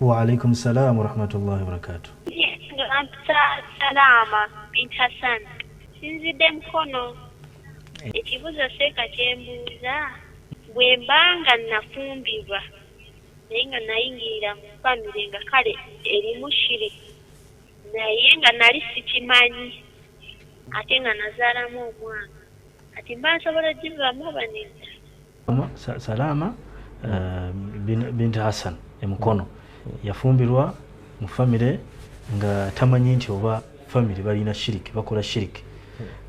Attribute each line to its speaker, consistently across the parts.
Speaker 1: Waalaikum
Speaker 2: salaam warahmatullahi wabarakatuh. Salaama
Speaker 1: bint Hassan sinzidde Mukono. Ekibuuzo seeka kye mbuuza bwe mba nga nafumbirwa naye nga nayingirira mu famire nga kale erimu shiri naye nga nali sikimanyi ate nga nazaalamu omwana kati mba nsobola ogivamu oba nedda? salaama
Speaker 2: eh, binti hassan emukono yafumbirwa mu famire nga tamanyi nti oba famire balina shiriki bakola shiriki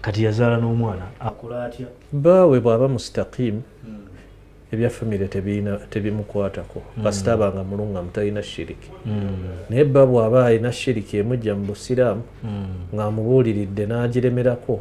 Speaker 2: kati yazaala n'omwana akola atya baawe bw'aba
Speaker 3: mustakimu hmm. ebya famire tebimukwatako hmm. kasita aba nga mulungamu talina shiriki hmm. naye bba bw'aba alina shiriki emujja mu busiraamu ng'amubuuliridde n'agiremerako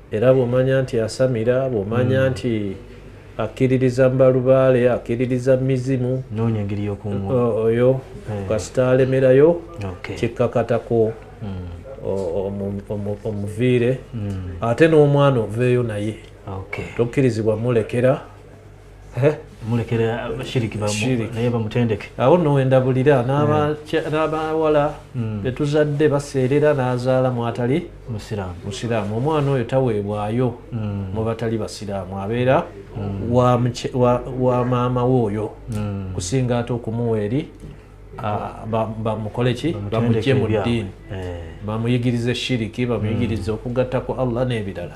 Speaker 3: era bwomanya nti asamira bwomanya mm. nti akkiririza mbalubaale akkiririza mizimu
Speaker 2: oyo eh.
Speaker 3: kasita alemerayo kikkakatako mm. omuviire mm. ate n'omwana oveeyo naye tokkirizibwa mulekera eh? mulekera
Speaker 2: shiriki naye bamutendeke awo no wendabulira
Speaker 3: n'abawala eh. hmm. betuzadde baseerera n'azaala mwatali musiraamu omwana oyo taweebwayo hmm. mu batali basiraamu abeera hmm. wa maama we oyo kusinga ate okumuwa eri bamukole ki bamugye mu ddiini eh. bamuyigirize shiriki bamuyigirize okugatta ku allah n'ebirala